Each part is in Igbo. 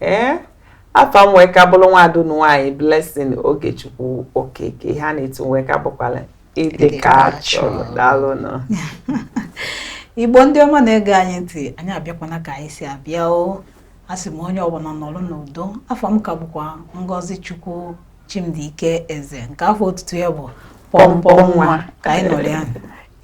ee eh? afa m wee ka bụrụ nwaada unu nwaanyị Blessing Ogechukwu Okeke ha na-etu wee ka bụkwala ịdị ka chọrọ daalụnụ Igbo ndị ọma na-ege anyị ntị anyị abịakwana ka anyị si abịa o asị m onye ọbụna nọrọ n'udo afa m ka bụkwa Ngozichukwu Chimdike Eze nke afa otutu ya bụ pọmpọ nwa ka anyị nọrọ ya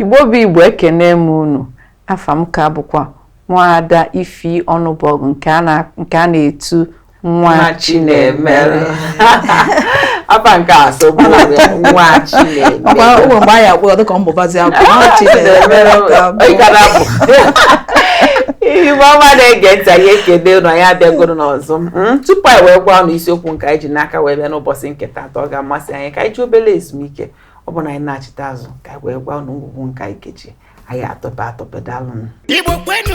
Igbo bụ Igbo ekene m unu Afa m ka bụkwa Nwaada Ifi Ọnụbọgụ nke a na- nke a na-etu nwa nwa Chinemere afa nke a so bụ nwa ọkwa Chinemere ụmụ mgbe anyị akpọrọ dịka ọ mbụbazi abụ nwa Chinemere ka abụ. Ị gara abụ. Igbo ọma na-ege ntị anyị ekene unu anyị abịagoro n'ọzọ Mm, tupu anyị wee gwa unu isiokwu nke anyị ji n'aka wee bịa n'ụbọchị nke taata ọ ga-amasị anyị ka anyị jee obere ezumike ọ bụ na anyị nachita azụ ka anyị wee gwa unu ngwugwu nke anyị kechi anyị atọpe atọpe daalụnụ Igbo kwenu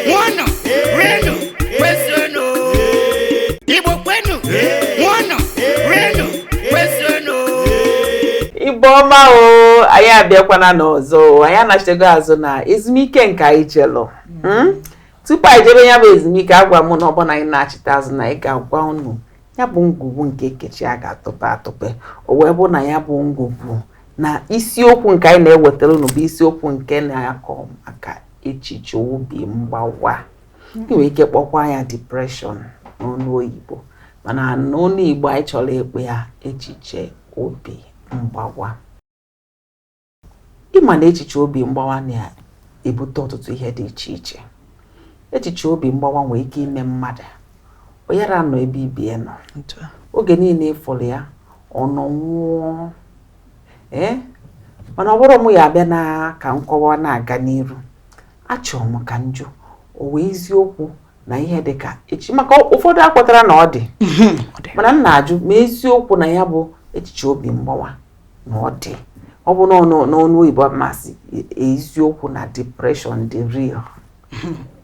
ṅụọnụ rienu kwezuenu Igbo kwenu ṅụọnụ rienu kwezuenu Igbo ọma o anyị abịakwana n'ọzọ o anyị anachitego azụ na ezumike nke anyị jelụ hmm? tupu anyị jebe ya bụ ezumike agwa m na ọ bụ na anyị nachita azụ na anyị ga-agwa unu ya bụ ngwugwu nke e kechi a ga-atọpe atọpe o wee bụ na ya bụ ngwugwu na isiokwu nke anyị na-ewetara unu bụ isiokwu nke na-akọ maka echiche obi mgbawa ị nwere ike kpọkwa ya depression n'ọnụ oyibo mana n'ọnụ igbo anyị chọrọ ịkpọ ya echiche obi mgbawa ị ma na echiche obi mgbawa na-ebute ọtụtụ ihe dị iche iche echiche obi mgbawa nwere ike ime mmadụ ọ yara anọ ebe ibe ya nọ oge niine ị fụrụ ya ọ nọ nwụọ ee eh? mana ọ bụrụ m ya abịa na ka nkọwa na-aga n'iru achọrọ m ka m jụọ ọ wụ eziokwu na ihe dị ka echi maka ụfọdụ ekwetarọ na ọ dị mana m na-ajụ ma eziokwu na ya bụ echiche obi mgbawa na ọ dị ọ bụrụ n'ọnụ oyibo m asị e, e, eziokwu na depression dị real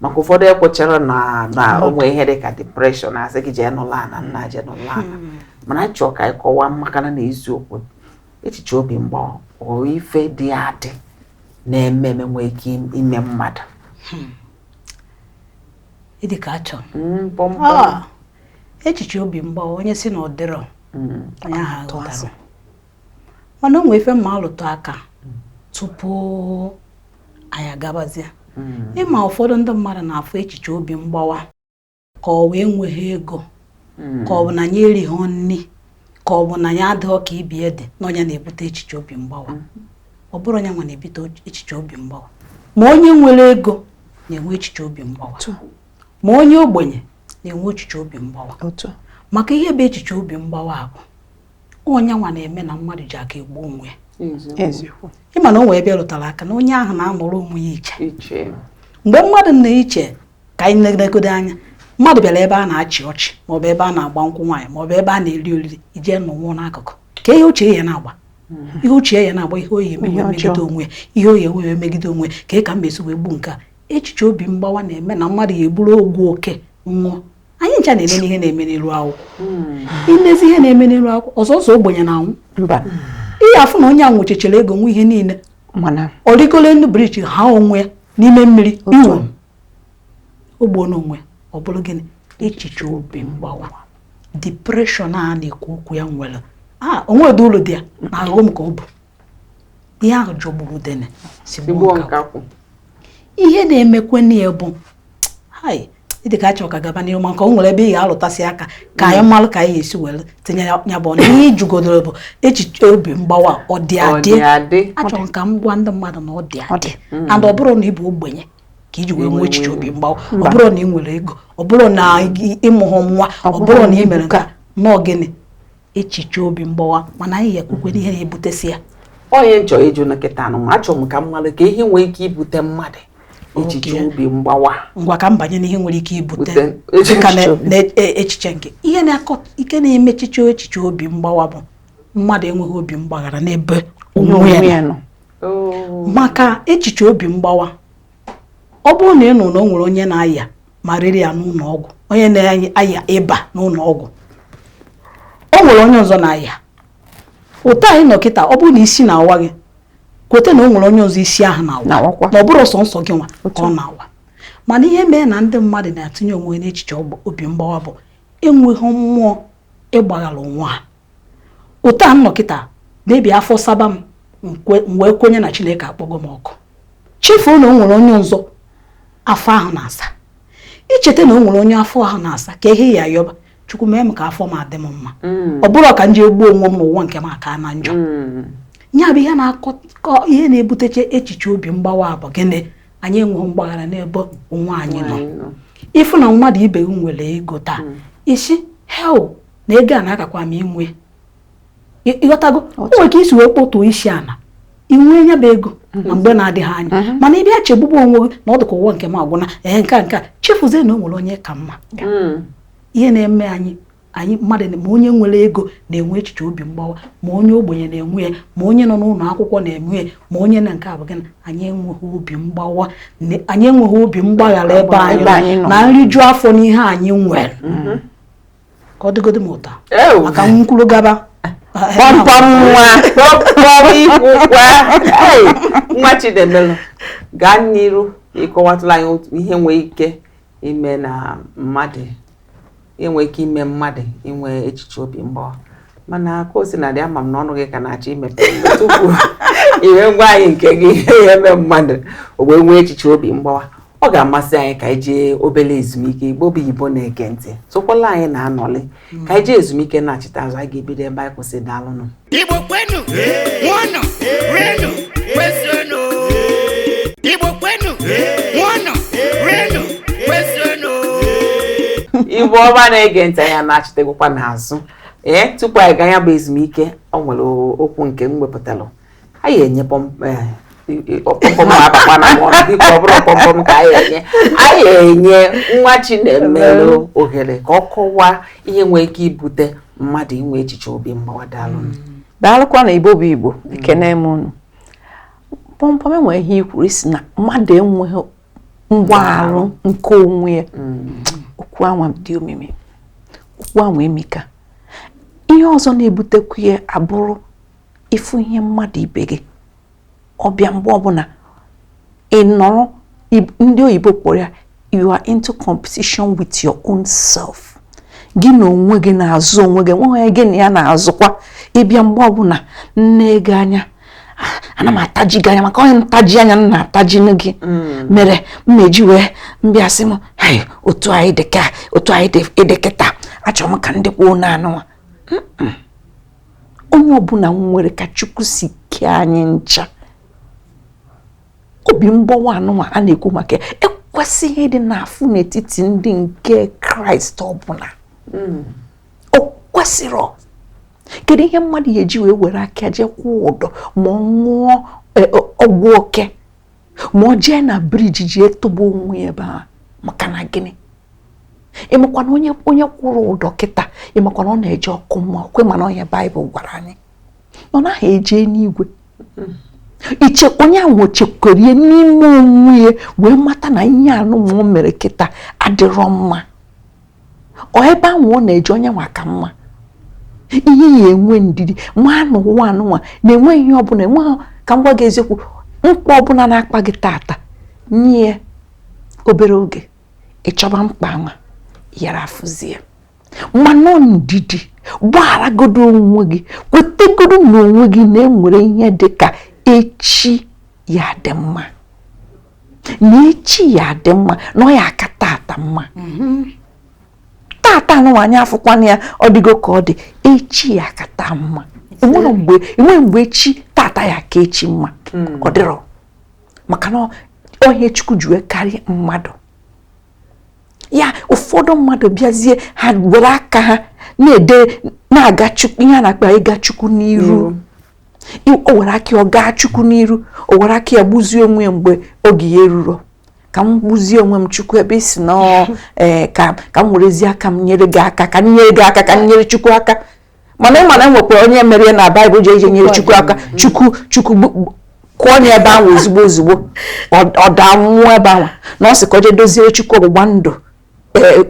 maka ụfọdụ ekwecharọ na na o nwe ihe dị ka depression a sị gị jee nọlụ ana nna jee nọlụ ana hmm. mana anyị chọọ ka anyị kọwaa makana na eziokwu echiche obi mgbawa ọ ife dị adị na-eme eme nwee ike ime mmadụ hmm. ịdị ka achọ hmm, ah. echiche obi mgbawa onye si na ọ dịrọ mm. onye ahụ aghọtarọ mana o nwe ife m ga-alụtụ aka tupu anyị agabazie mm. ị ma ụfọdụ ndị mmadụ na-afụ echiche obi mgbawa ka ọ wụ enweghị ego mm. ka ọ bụ na ya erighị nri ka ọ bụ na ya adịghị ka ibe ya dị na ọ ya na-ebute echiche obi mgbawa ọ bụrọ ya nwa na-ebute echiche obi mgbawa ma onye nwere ego na-enwe echiche obi mgbawa ma onye ogbenye na-enwe echiche obi mgbawa maka ihe bụ echiche obi mgbawa a bụ ya nwa na-eme na mmadụ ji aka egbu onwe ya ị ma na o nwee ebe ị rụtara aka na onye ahụ na-anọrọ onwe ya iche mgbe mmadụ na-eche ka anyị negodo anya mmadụ bịara ebe a na-achị ọchị maọbụ ebe a na-agba nkwụ nwaanyị maọbụ ebe a na-eri oriri i je nọwa n'akụkụ ka ihe uche ya na-agba hmm. ihe uche ya na-agba ihe ọ ya-emegide onwe ihe oyi enweghị emegide onwe ka ị ka m esi wee gbuo nke a echiche obi mgbawa na-eme na mmadụ ya-eburu ọgwụ oke ṅụọ anyị ncha na-ene ihe na-eme n'iru akwụkwọ hmm. i nezi ihe na-eme n'iru akwụkwọ ọzọ ọ sọ ogbenye na-anwụ mba ị ya-afụ na onye a nwechachara ego nwe ihe niile mana ọ rịgoro elu briji ha onwe ya n'ime mmiri iwu ogbuo n'onwe ọ bụrụ gịnị echiche obi mgbawa depression a na-ekwu okwu ya nwere a o nwe ụdị uru dị ya na ọghọm ka ọ bụ ihe ahụ jọgburu udene sigbuo nkakwụ ihe na-emekwe na ya bụ ihe ka achọ ka gaba n'ihu maka o nwere ebe ị ga-alụtasị aka ka anyị malụ ka anyị esi were tinye ya bụ ọnụ ihe ị jụgodoro bụ echiche obi mgbawa ọ dị adị achọrọ ka m gwa ndị mmadụ na ọ dị adị mm. and ọ bụrọ na ị bụ ogbenye ka i ji wee nwee echiche obi mgbawa ọ bụrọ na ị nwere ego ọ bụrọ na ị mụghọ nwa ọ bụrọ na ị mere nke a na echiche obi mgbawa mana anyị ekwukwe n'ihe na-ebutesi ya ọ ya m chọ ịjụ na kịta anụ ma achọrọ m ka m malụ ka ihe nwee ike ibute mmadụ echiche obi mgbawa ngwa ka m banye n'ihe nwere ike ibute ka n'echiche nke ihe na-akọ ike na-eme echiche echiche obi mgbawa bụ mmadụ enweghị obi mgbaghara n'ebe onwe ya nọ oh. maka echiche obi mgbawa ọ bụrụ na ị nụrụ na o nwere onye na-aya malaria n'ụlọ ọgwụ onye na-aya ịba n'ụlọ ọgwụ o nwere onye ọzọ na-aya otu a anyị nọ kịta ọ bụrụ na isi na-awa gị kweta na o nwere onye ọzọ isi ahụ na-awa na ọ bụrọ sọnsọ gị nwa ka ọ na-awa mana ihe mee na ndị mmadụ na-etinye onwe n'echiche obi mgbawa bụ enweghị mmụọ ịgbaghara onwe ha otu a m nọ kịta maybe afọ saba m wee kwenye na Chineke akpọgo m ọkụ chefuo na o nwere onye ọzọ afọ ahụ na-asa i cheta na o nwere onye afọ ahụ na-asa karịa ịyọba chukwu mee m ka afọ m dị m mma mm. ọ bụrụ ka m jee gbuo onwe m na ụwa nke m akana njọ mm. ya bụ ihe na-aka ihe na-ebutecha echiche obi mgbawa a bụ gịnị anyị enweghị mgbaghara n'ebe onwe anyị nọ ị fụ na mmadụ ibe gị nwere ego taa mm. ị sị hei na ego a na-agakwa m inwe ịghọtago o nwere ka i si wee kpọtụ isi ana i nwee ya bụ ego na mhm. mgbe na-adịghị anya mhm. mana ị bịa chegbube onwe gị na ọ dịka ụwa nke m agwụna ee nke nke chefuzie na o nwere onye ị ka mma mm. ihe na-eme anyị anyị mmadụ ma onye nwere ego na-enwe echiche obi mgbawa ma onye ogbenye na-enwe ya ma onye nọ n'ụlọ akwụkwọ na-enwe ya ma onye na nke abụ gịnị anyị enweghị obi mgbawa anyị enweghị obi mgbaghara ebe anyị na nriju afọ n'ihe anyị nwere mm-hmm. ka ọ dịgodị m ụtọ maka m kwuru gaba pọmpọm nwa pọmpọm ikwukwa nwa Chinemelu gaa n'iru ịkọwatụlụ anyị otu ihe nwee ike ime na mmadụ ihe nwee ike ime mmadụ inwe echiche obi mgbawa mana ka o sina dị ama m na ọnụ gị ka na-achọ imepe tupu i wee gwa anyị nke gị ihe eme mmadụ o wee nwee echiche obi mgbawa ọ ga-amasị anyị ka anyị jee obere ezumike igbo bụ igbo na-ege ntị sokwalụ anyị na-anọlị ka anyị jee ezumike nachita azụ anyị ga-ebido ebe anyị kwụsị daalụnụ Igbo kwenu, ṅụọnụ, rienu, kwezuenu. Igbo kwenu, ṅụọnụ, rienu, kwezuenu. igbo ọma na-ege ntị anyị anachitagokwa n'azụ ee tupu anyị gaa ya bụ ezumike ọ nwere okwu nke m wepụtalụ anyị enye pọmpọm eh, abakwana mụọ biko ọ bụrọ pọmpọm ka anyị enye anyị enye nwa Chinemelu ohere ka ọ kọwaa ihe nwere ike ibute mmadụ inwe echiche obi mgbawa daalụ mm. daalụkwanụ igbo bụ igbo mm. ekene m unu pọmpọm enwere ihe i kwuru ị sị na mmadụ enweghị mgbaghara nke onwe ya mm. okwu anwa dị omimi okwu anwa emika ihe ọzọ na-ebutekwu ya abụrụ ịfụ ihe mmadụ ibe gị ọ bịa mgbe ọbụla ị nọrọ ndị oyibo kpọrọ ya you are into competition with your own self gị na onwe gị na-azọ onwe gị o nweghị onye gị na ya na-azọkwa ị bịa mgbe ọbụla m nee gị anya ana m ataji gị anya maka ihi ntaji anya m na-ataji gị mm. mere m na-eji wee bịa sị m otu anyị dị ka otu anyị dị kịta achọrọ m ka m dịkwuo n'ana ụwa onye ọbụla nwere ka Chukwu si kee anyị ncha obi mgbawa anụwa a na-ekwu maka ya ekwesịghị ịdị na-afụ n'etiti ndị nke Kraịst ọbụla hmm. o kwesịrọ kedu ihe mmadụ ya-eji wee were aka jee kwụọ ụdọ ma ọ ṅụọ e, ọgwụ oke ma ọ jee na briji jee tụgbuo onwe ya ebe a maka na gịnị ị makwa na onye onye kwụrụ ụdọ kịta ị makwa na ọ na-eje ọkụ mmụọ kwa mana ihe baịbụl gwara anyị ọ naghị eje enuigwe iche onye ahụ chegharịa n'ime onwe ya wee mata na ihe anụwa o mere kịta adịrọ mma ọ ebe ahụ ọ na-eje onye nwa ka mma ihe ya enwe ndidi ma na ụwa anụnwa na-enweghị ihe ọbụla enweghị ka m gwa gị eziokwu mkpa ọbụla na-akpa gị tata nye obere oge ịchọba mkpa anwa ị yara afụzi ya ma nwee ndidi gbagharagodo onwe gị kwetegodo na onwe gị na enwere ihe dị ka echi ya adị mma na echi ya adị mma na ọ ya aka tata mma mm-hmm. tata anụnwa anyị afụkwana ya ọ dịgo ka ọ dị echi ya aka taa mma enwere mgbe enwere mgbe echi tata ya aka echi mma hmm. ọ dịrọ maka na ọ ihe chukwu ji wee karịa mmadụ ya ụfọdụ mmadụ bịazie ha were aka ha na-ede na-aga chukwu ihe a na-akpọ ịga chukwu n'iru o were aka ọ gaa chukwu n'iru o were aka ya gbuzie onwe ya mgbe oge ya eruro ka m gbuzie onwe m chukwu ebe i si na ee eh, ka ka m werezie aka m nyere gị aka ka m nyere gị aka ka m nyere chukwu aka mana ị ma na enwekwa onye mere ya na baịbụl jee jee nyere chukwu aka chukwu chukwu kụọ onye ebe anwa ozugbo ozugbo ọ daa nwụọ ebe ahụ na ọ sị ka o jee doziere chukwu ọgbụgba ndụ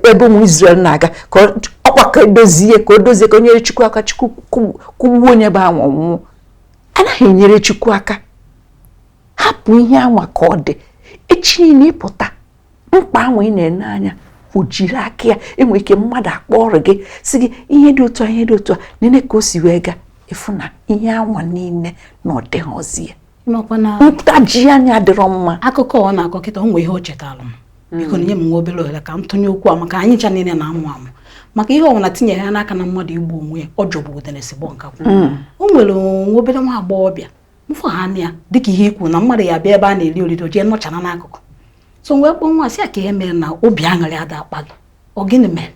ebe ụmụ Izrel na-aga ka ọkwa ka edozie ka o dozie ka o nyere Chukwu aka Chukwu kụgbuo onye bụ anwa nwụọ anaghị enyere Chukwu aka hapụ ihe anwa ka ọ dị echi niile ịpụta mkpa anwa ị na-ene anya o jiri aka ya enwere ike mmadụ akpọọrọ gị sị gị ihe dị otu a ihe dị otu a nene ka o si wee gaa ị fụ na ihe anwa niile na ọ dịghịzi ya ntaji anya adịrọ mma akụkọ ọ na-akọ kịta o nwe ihe o chetara m hmm. biko nye m nwa obere ohere ka m tụnye okwu a maka anyị ncha niile na-amụ amụ maka ihe ọbụla tinyere ya n'aka na mmadụ igbu onwe ya ọ jọgbu udene sigbuo nkakwu hmm. o nwere nwa obere nwa agbọghọbịa m fụ ha na ya dịka ihe i kwu na mmadụ ya bịa ebe a na-eri oriri o jee nọchara n'akụkụ so wee kpọọ nwa sị ya kee ihe mere na obi aṅụrị ada akpa gị ọ gịnị mere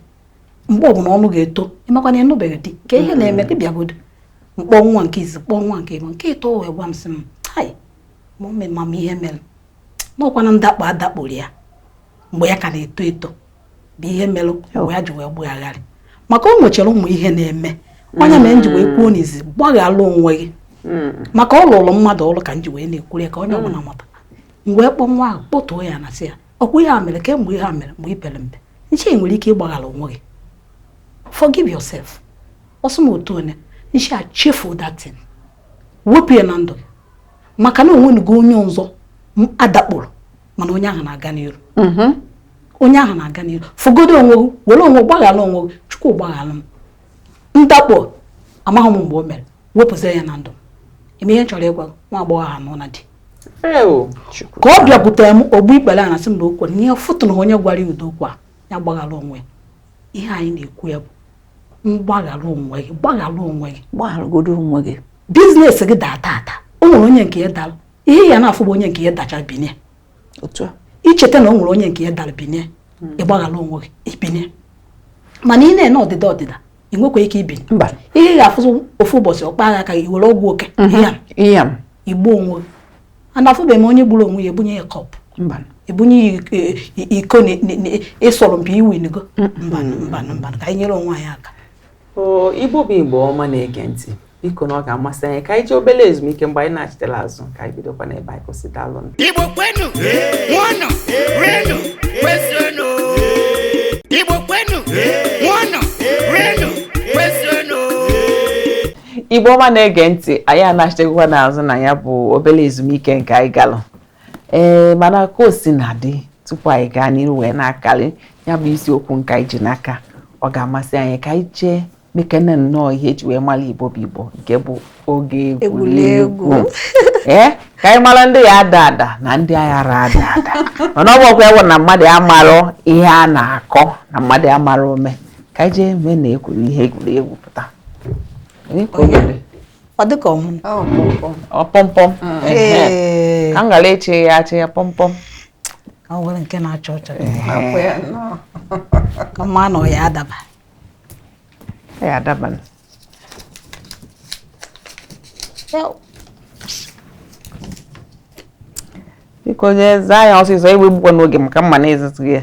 mgbe ọbụla ọnụ ga-eto ị makwa na ị nụbeghị di kee ihe na-eme di bịagodo m kpọọ nwa nke izi kpọọ nwa nke ịbụa nke ịtọ wee gwa m sị m hai mọmi ma m ihe mere na ọkwa na ndakpo a dakporo ya mgbe ya ka na-eto eto bụ ihe mere mgbe ya ji wee gbagharị maka o nwechara ụmụ ihe na-eme ọ ihe mere m ji wee kwuo n'izi gbaghara onwe gị hmm. maka ọ lụrụ mmadụ ọrụ ka m ji wee na-ekwuru ya ka onye ọbụla mata m wee kpọọ nwa ahụ kpọtuo ya ana sị ya ọkwa ihe a mere kemgbe ihe a mere mgbe i pere mpe m sị i nwere ike ịgbaghara onwe gị forgive yourself ọ sị m otu onye nshi achefu that thing wepụ ya na ndụ maka na o nwenugo onye ọzọ dakpọrọ mana onye ahụ na-aga n'iru mm-hmm. onye ahụ na-aga n'iru fụgodo onwe gị were onwe gbaghara onwe gị chukwu gbaghara m ndakpọ amaghị m mgbe o mere wepụzie ya na ndụ eme ihe chọrọ ịgwa nwa agbọghọ ahụ nọ na di ka ọ bịakwutere m o gbu ikpere ana asị m na okwu n'ihe fụtụ na onye gwara ya udo okwu a ya gbaghara onwe ihe anyị na-ekwu ya bụ mgbaghara onwe gị gbaghara onwe gị gbagharagodo onwe gị business gị daa tata o nwere onye nke ya dara ihe ya na-afụ bụ onye nke ya dacha binye otu a i cheta na o nwere onye nke ya dara binye hmm. ị gbaghara onwe gị i binye mana ị na-ene ọdịda ọdịda ị nwekwa ike ibinye mba ihe ị ga-afụzi ofu ụbọchị ọ kpaa gị aka ị were ọgwụ oke mhm. i gbuo onwe gị and afụbeghị m onye gburu onwe ya e bunye ya cup e bunye ya iko ị sọrọ mpi i winigo mbanụ mbanụ mbanụ ka anyị nyere onwe anyị aka igbo bụ igbo ọma na-ege ntị biko na ọ ga-amasị anyị ka anyị jee obere ezumike mgbe anyị nachitela azụ ka anyị bidokwa n'ebe anyị kwụsị daalụ igbo kwenu ṅụọnụ rienu kwezuenu igbo kwenu ṅụọnụ rienu kwezuenu igbo ọma na-ege ntị anyị anachitekwa n'azụ na ya bụ obere ezumike nke anyị galụ ee mana ka o si na dị tupu anyị gaa n'iru wee na-akarị ya bụ isiokwu nke anyị ji n'aka ọ ga-amasị anyị ka anyị jee mekene nnọọ ihe e ji wee mara igbo bụ igbo nke bụ oge egwuregwu ee ka anyị mara ndị ya ada ada na ndị ayarọ ada ada mana ọ bụkwa ewu na mmadụ amarọ ihe a na-akọ na mmadụ amarọ ome ka anyị jee mee na ekwuru ihe egwuregwu pụta ọ dịka ọmụ ọpọmpọm ka m ghara eche ya achị ya pọmpọm ka m were nke na-achọ ọchọ ka m ma na ọ ya ada ya ada biko onye zaa ya ọsịsọ egbukwana oge maka mma na-ezizi ya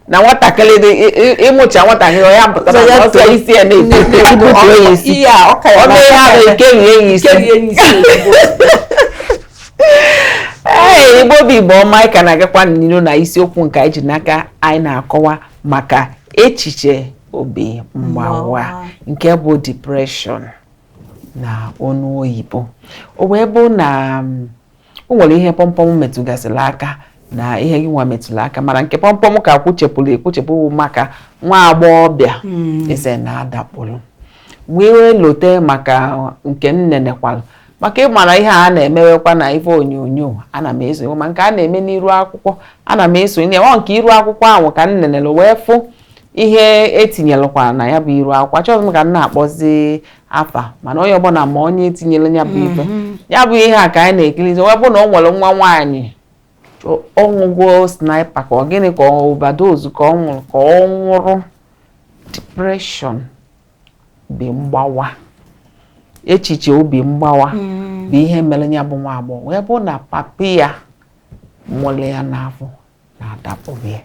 na nwatakịrị dị ị mụcha nwatakịrị ọ ya pụtara ọsọ isi ya na-ebu ya isi ọ mee ha bụ ike rie ya isi ee igbo bụ igbo ọma anyị ka na-agakwa n'ilu na isiokwu nke anyị ji n'aka anyị na-akọwa maka echiche obi mgbawa nke bụ depression na ọnụ oyibo o wee bụ na mm, o nwere ihe kpọmkpọm metụgasịrị aka na ihe gị nwa metụrụ aka mana nke kpọmkpọm ka kwuchapụrụ ekwuchapụ maka nwa agbọghọbịa hmm. eze na-adakpụrụ wee lote maka nke m nenekwalụ maka ịmara ihe a na-emewekwa na ife onyonyo ana m eso ma nke a na-eme n'iru akwụkwọ ana m esonye ọ nke iru akwụkwọ ahụ ka m nenere wee fụ ihe e tinyelụkwara na ya bụ iru akwụkwọ achọghị m ka m na-akpọzi afa mana onye ọbụla ma onye tinyere ya bụ ife mhm. ya bụ ihe a ka anyị na-ekirizi wee bụ na ọ nwere nwa nwaanyị ọ ṅụgo sniper ka ọ gịnị ka ọ overdose ka ọ nwụrụ ka ọ nwụrụ depression obi mgbawa echiche obi mgbawa mhm. bụ ihe mere ya bụ nwa agbọghọ wee bụ na papa ya mụrụ ya n'afọ na-adapụghị ya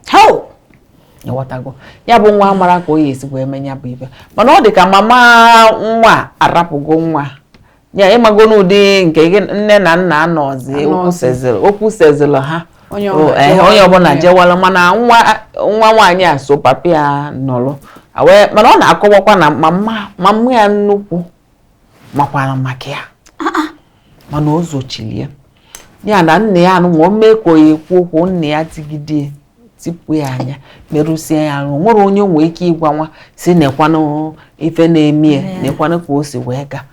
ịghọtago ya bụ nwa amarọ ka ọ ya-esi wee mee ya bụ ife mana ọ dị ka mama nwa arapụgo nwa ya ịmago n'ụdị nke nne na nna anọzi okwu sezili ha onye ọbụla jewala mana nwa nwaanyị a so papa ya nọrọ mana ọ na-akọwakwa na mama ya nnukwu makwara maka ya ah, ah. mana o zochiri ya ya na nna ya anụnwa o mee ka ọ ya-ekwu okwu nna ya tigide tipụ ya anya merụsie ya arụ o nwerọ onye o nwee ike ịgwa nwa sị nekwanụ ife na-eme ya nekwanụ ka o si wee gaa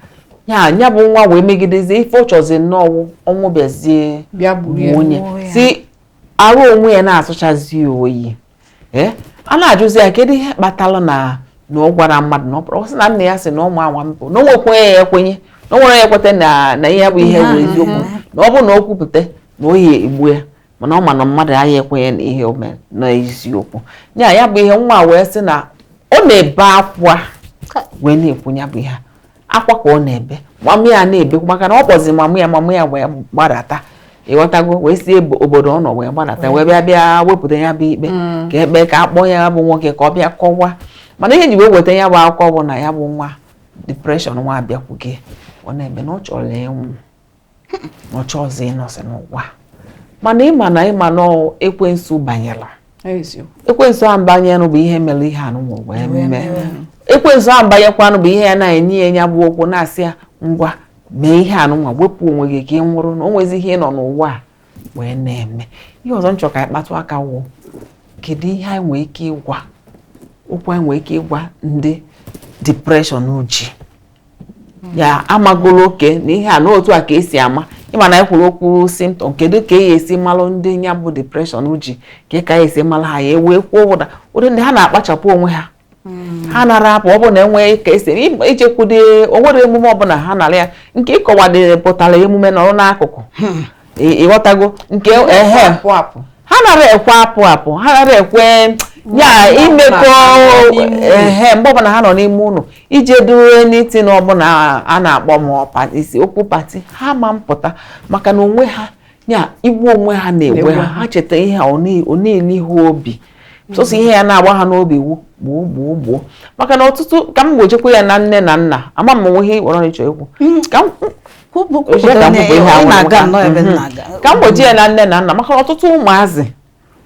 ya bụ nwa wee megidezie ife ọ chọzi nnọọ ọnwụ bịazie wee sị arụ onwe ya na-asọchazi oyi ee a na-ajụzi ya kedu ihe kpatara na na ọ gwarọ mmadụ na ọ bụrụ ọ sị na nna ya sị na ọ nwaa anwa mbụ na o nwekwanụ onye ya-ekwenye na o nwerọ onye ya-ekweta na na ihe bụ ihe bụ eziokwu na ọ bụrụ na o kwupụta na ọ ya-egbu ya mana ọ ma na mmadụ aya ekwenye na ihe o mere na eziokwu ya ya bụ ihe nwa wee sị na ọ na-ebe akwa wee na-ekwu ya bụ ihe a. akwa ka ọ na-ebe mama ya na-ebekwa maka na ọ kpọzi mama ya mama ya wee gbadata ịghọtago wee si obodo ọ nọ wee gbadata wee bịa bịa wepụta ya bụ ikpe mm. ka e kpee ka a kpọọ ya bụ nwoke ka ọ bịa kọwa mana ihe e ji wee weta ya bụ akụkọ bụ na ya bụ nwa depression nwa abịakwugo ọ na-ebe na ọ chọrọ ịnwụ ọ chọrọzi ịnọzi n'ụwa mana ịma na ịma na ekwensu banyela ekwensu ahụ banyenụ bụ ihe mere ihe anụnwa wee mee ekwensu ahụ banyekwanụ bụ ihe ya na-enye ya nya bụ okwu na-asị ya ngwa mee ihe anụnwa wepụ onwe gị ka ị nwụrụ na o nwezi ihe ị nọ n'ụwa a wee na-eme ihe ọzọ m chọ ka anyị kpatụ aka wụ kedu ihe anyị nwee ike ịgwa okwu anyị nwee ike ịgwa ndị depression ji ya amagolo okay na ihe a n'otu a ka esi ama ịma na ekwuru okwu symptom kedu ka a ya-esi malụ ndị ya bụ depression ji ka ka esi malụ ha ya ewee kwuo na ụdị ndị ha na-akpachapụ onwe ha hmm. ha anara apụ ọ bụ na enweghị ka esi ijekwude o nwere emume ọbụla ha anara aya nke ịkọwadere pụtara emume nọrọ n'akụkụ hmm. ịghọtago nke ehe ha nara ekwe apụ apụ ha nara ekwe ya imekọ ihe mgbe ọbụla ha nọ n'ime ụlọ ije due meeting ọbụla a na-akpọ m oku party ha ama apụta maka na onwe ha iwe onwe ha na-ewe ha ha cheta ihe a ọ na-eli ha obi sọsọ ihe na-agba ha n'obi wu gbuo gbuo gbuo maka na ọtụtụ ka m gbajekwa ya na nne na nna ama m nweghị ịkpọrọ ịchọ ekwu ka m gbaje na nne na nna maka ọtụtụ ụmụazị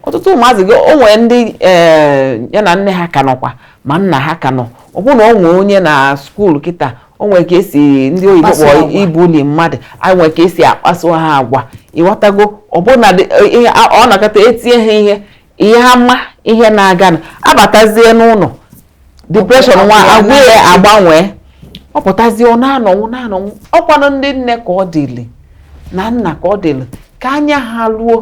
ọtụtụ ụmụazị o nwere ndị eh, ya na nne ha ka nọkwa ma nna ha ka nọ ọ bụrụ na ọ nwee onye na school kịta o nwere ka esi ndị oyibo kpọrọ ibully mmadụ e nwere ka esi akpaso ha agwa ịghọtago ọbụna a nọkata etie ha ihe ị ya ama ihe na-aganụ abatazie n'ụlọ depression nwa agwa ya agbanwee ọ pụtazie ọ na-anwụ anwụ ọkwanụ ndị nne ka ọ dịli na nna ka ọ dịli ka anya ha ruo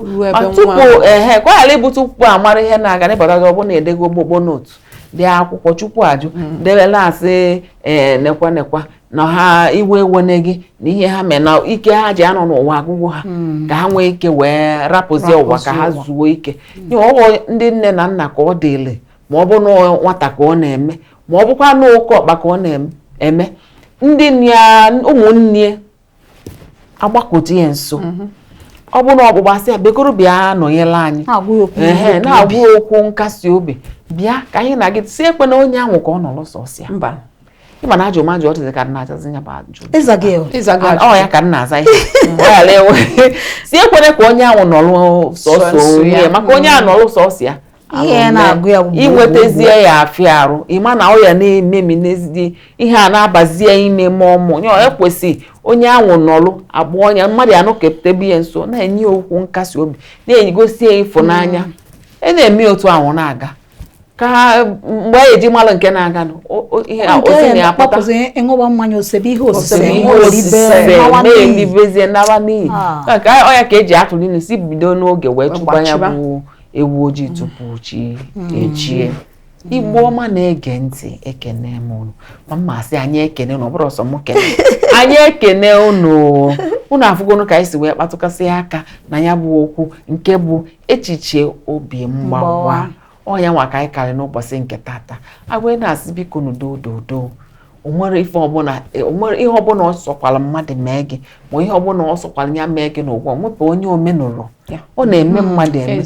tupu ehe ka ọ ghara ịbụ tupu a mara ihe na-aga ị pụtazi ọ bụrụ na edego ogonogo note dee akwụkwọ chukwu ajụ mm. dere na-asị ee nekwa nekwa na ha iwe ewena gị na ihe ha mee na ike ha ji anọ n'ụwa agwụgo ha hmm. ka ha nwee ike wee rapụzie ụwa ka ha zuo ike ee ọ bụ ndị nne na nna ka ọ dịli ma ọ bụ na nwata ka ọ na-eme ma ọ bụkwa na oke ọkpa ka ọ na-eme ndị ụmụnne agbakute ya nso mhm. ọ bụ na ọgbụgba asị ya bikonu bịa nọnyere anyị a na-agwa ya okwu nkasi obi bịa ka anyị na gị si ekwena onye ahụ ka ọ nọrọ sọsọ ya ịma na ajụ m ajụ ọdịdị ka nna ajazi ya bụ ajụ ọ ya ka nna aza ihe si ekwena ka onye ahụ nọrọ sọsọ ya maka onye a nọrọ sọsọ ya ihe na-agụ ya inwetazie ya afịa arụ ịma na ọ ya na-ememi n'ezidi ihe a na-abazie ime mmụọ nye ekwesị onye anwụ nọlụ agba ọnya mmadụ ya nọketebe ya nso na-enye okwu nkasi obi na-egosi ya ịfụnanya mm. ị e na-eme otu ahụ na-aga ka mgbe a ya eji malụ nke na-aga ihe ozi na-apụta ọ ṅụwa mmanya o sebe ihe osise na-emebezie nara n'iyi ah. ọ ya ka eji atụ n'ilu sị bido n'oge wee chụba ya bụ ewu ojii tupu chi ejie igbo ọma na-ege ntị ekene m unu ma mma asị anyị ekene unu ọ bụrọ sọ m kene anyị ekene unu unu afụgonu ka anyị si wee kpatụkasị aka na ya bụ okwu nke bụ echiche obi mgbawa Mgbawa. ọ ya nwa ka anyị karị n'ụbọchị nke tata e wee na-asị biko n'udo udo udo onwere ife ọbụla e, onwere ihe ọbụla ọ sọkwara mmadụ mee gị ma ihe ọbụla ọ sọkwara ya mee gị n'ụwa nwepụ onye o menụrọ ọ na-eme mm, mmadụ eme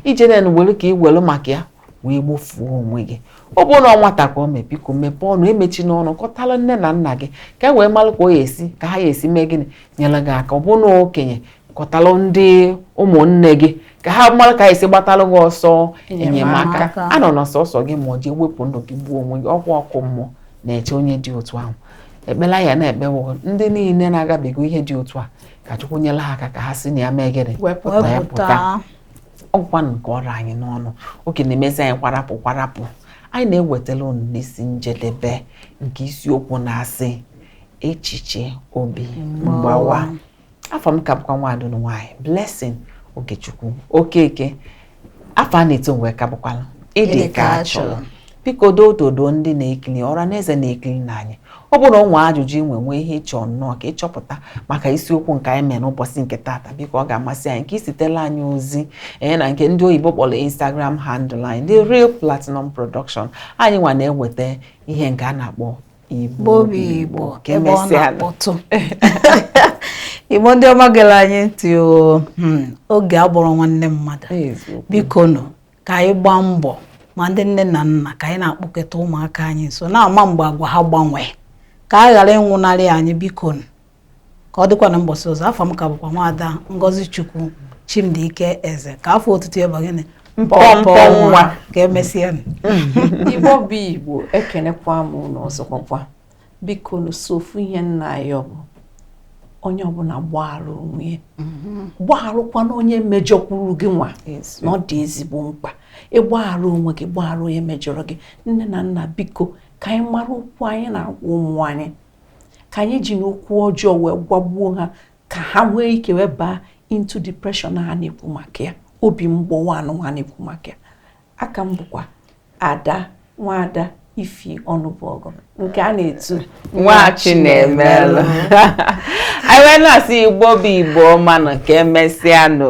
ije na were ka ị were maka ya wee gbofuo onwe gị ọ bụrụ na ọ nwata ka ọ mee biko mepee ọnụ emechina ọnụ kọtara nne na nna gị ka e wee mara ka ọ ya esi ka ha ya esi mee gịnị nyere gị aka ọ bụrụ na okenye kọtalụ ndị ụmụnne gị ka ha mara ka e si gbatalụ gị ọsọ enyemaka anọna sọsọ gị ma ọ ji wepụ ndụ gị gbuo onwe gị ọkwa ọkụ mmụọ na-eche onye dị otu ahụ ekpele anyị na-ekpe bụ ndị niile na-agabiga ihe dị otu a ka Chukwu nyere ha aka ka ha si na ya mee gịnị wee pụta ngwanụ nke ọ ra anyị n'ọnụ oge na-emezi anyị kwarapụ kwarapụ anyị na-ewetara unu n'isi njedebe nke isiokwu na-asị echiche obi mgbawa afa m ka bụkwa nwaada unu nwaanyị Blessing Ogechukwu Okeke afa a na-etu m nwa ka bụkwala ịdị ka a chọrọ biko doododo ndị na-ekiri ọra na eze na-ekirinụ anyị ọ bụrụ o nwee ajụjụ i nwe nwee ihe ị chọ nnọọ ka ị chọpụta maka isiokwu nke anyị mere n'ụbọchị nke taata biko ọ ga-amasị anyị ka i zitelụ anyị ozi ee na nke ndị oyibo kpọrọ Instagram handle anyị the real platinum production anyị nwa na-eweta ihe nke a na-akpọ Igbo bụ Igbo ka emesịa nụ. na-akpọtụ Igbo ndị ọma gere anyị ntị o hmm, oge abụrọ nwanne mmadụ Eziokwu. biko nụ ka anyị gbaa mbọ ma ndị nne na nna ka anyị na-akpọkọta ụmụaka anyị nso na-ama mgbe agwa ha gbanwee ka ha ghara ịnwụnarị anyị biko nụ ka ọ dịkwanụ ụbọsị ọzọ afa m ka bụkwa nwaada ngozi chukwu chimdike eze ka afa otutu ya bụ gịnị mpọmpọ nwa ka emesịa igbo bụ igbo ekenekwa m unu ọzọkwakwa bikonụ sọ ofu ihe m na-ayọ bụ onye ọbụla gbaghara onwe ya mm-hmm. gbagharụkwanụ onye mejọkwuru gị nwa na ọ dị ezigbo mkpa ịgbaghara onwe gị gbaghara onye mejọrọ gị nne na nna biko ka anyị mara okwu anyị na-agwa ụmụ anyị ka anyị ejina okwu ọjọọ wee gwagbuo ha ka ha nwee ike wee baa into depression a na-ekwu maka ya obi mgbawa anụwa a na-ekwu maka ya a ka m bụkwa ada nwaada ify ọnụbọgụ nke a na-etu nwachinemelụ anyị wee na-asị igbo bụ igbo ọma nụ ka emesịa nụ